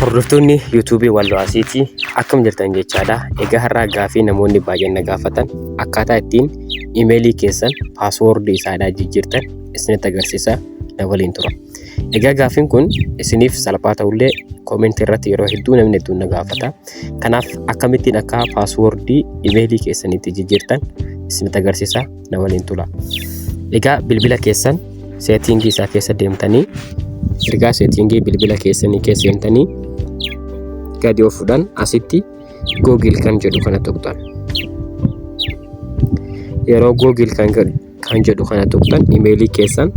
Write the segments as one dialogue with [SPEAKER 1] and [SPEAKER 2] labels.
[SPEAKER 1] Hordoftoonni YouTube Wallo Asiitii akkam jirtan jechaadha. Egaa har'aa gaafii namoonni baay'een na gaafatan akkaataa ittiin imeelii keessan paaswoordii isaadhaa jijjiirtan isinitti agarsiisa na waliin tura. Egaa gaafiin kun isiniif salphaa ta'ullee koomentii irratti yeroo hedduu namni hedduun na gaafata. Kanaaf akkamittiin akka paaswoordii imeelii keessanitti jijjiirtan isinitti agarsiisa. namani hin tula. Egaa bilbila keessan seetiingii isaa keessa deemtanii ergaa seetiingii bilbila keessanii keessa deemtanii gadi of fudhan asitti googil kan jedhu kana tuqxan. Yeroo googil kan jedhu kan jedhu kana tuqxan imeelii keessan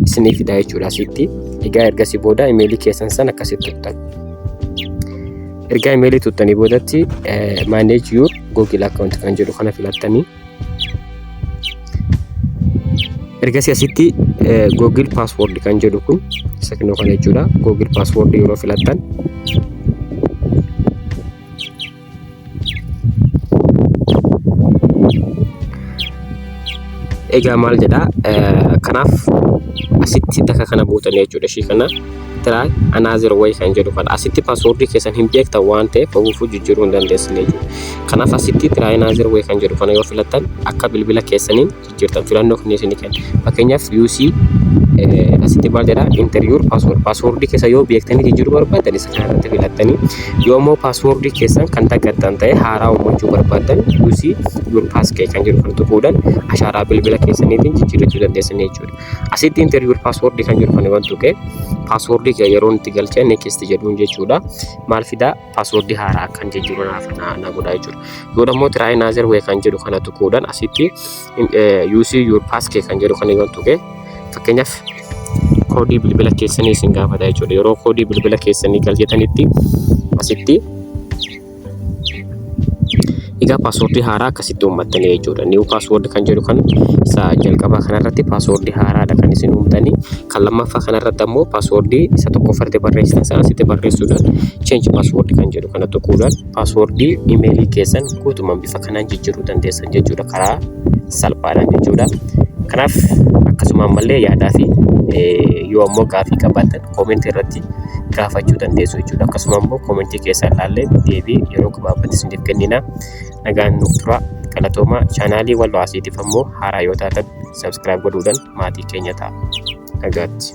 [SPEAKER 1] isiniif fidaa jechuudha asitti. Egaa ergasii booda imeelii keessan san akkasitti tuqxan. Ergaa imeelii tuqxanii boodatti manage your google account kan jedhu kana filattanii Ergasii asitti Google Password kan jedhu kun isa kennu kana jechuudha. Google Password yeroo filattan egaa maal jedhaa kanaaf asitti daka kana buutanii jechuudha ishii kana. try another way kan jedhu kana asitti passwordii keessan hin beektan waan ta'eef ofuufuu jijjiiruu hin dandeessan jechuudha. Kanaaf asitti try another way kan jedhu kana yoo filattan akka bilbila keessaniin jijjiirtan filannoo kan isinii kenna. Fakkeenyaaf UC asitti maal jedha interior password passwordii keessa yoo beektanii jijjiiruu barbaaddan isa kana irratti filattanii yoo immoo passwordii keessan kan daggattan ta'e haaraa uumachuu barbaaddan UC your pass key kan jedhu kan tuquudhaan ashaaraa bilbila keessaniitiin jijjiirrachuu dandeessan jechuudha. Asitti enter your password kan jedhu kan wantu kee password kee yeroo itti galchee next jedhuun jechuudha. Maal fidaa password haaraa akkan jijjiiru naaf na godhaa jechuudha. Yoo ammoo try another way kan jedhu kana tuquudhaan asitti use your pass kee kan jedhu kana wantu kee fakkeenyaaf koodii bilbila keessanii isin gaafata jechuudha. Yeroo koodii bilbila keessanii galchatanitti asitti Egaa paaswoordii haaraa akkasitti uummattanii jechuudha. Niiw paaswoord kan jedhu kan isa jalqabaa kanarratti paaswoordii haaraadha kan isin uumtanii. Kan lammaffaa kanarratti ammoo paaswoordii isa tokkoffaarratti barreessitan sana asitti barreessuudhaan cheenji paaswoord kan jedhu kana tuquudhaan paaswoordii imeelii keessan guutumaan bifa kanaan jijjiiruu dandeessan jechuudha karaa salphaadhaan jechuudha. Kanaaf akkasuma ammallee yaadaa fi yoo ammoo gaaffii qabaattan koomentii irratti gaafachuu dandeessu jechuudha. Akkasuma immoo koomentii keessaa ilaallee deebii yeroo gabaabatti isiniif kennina. Nagaan nuuf tura. Galatoomaa chaanaalii Walloo Asiitiif ammoo haaraa yoo taatan sabskiraayib godhuudhaan maatii keenya ta'a. Nagaatti.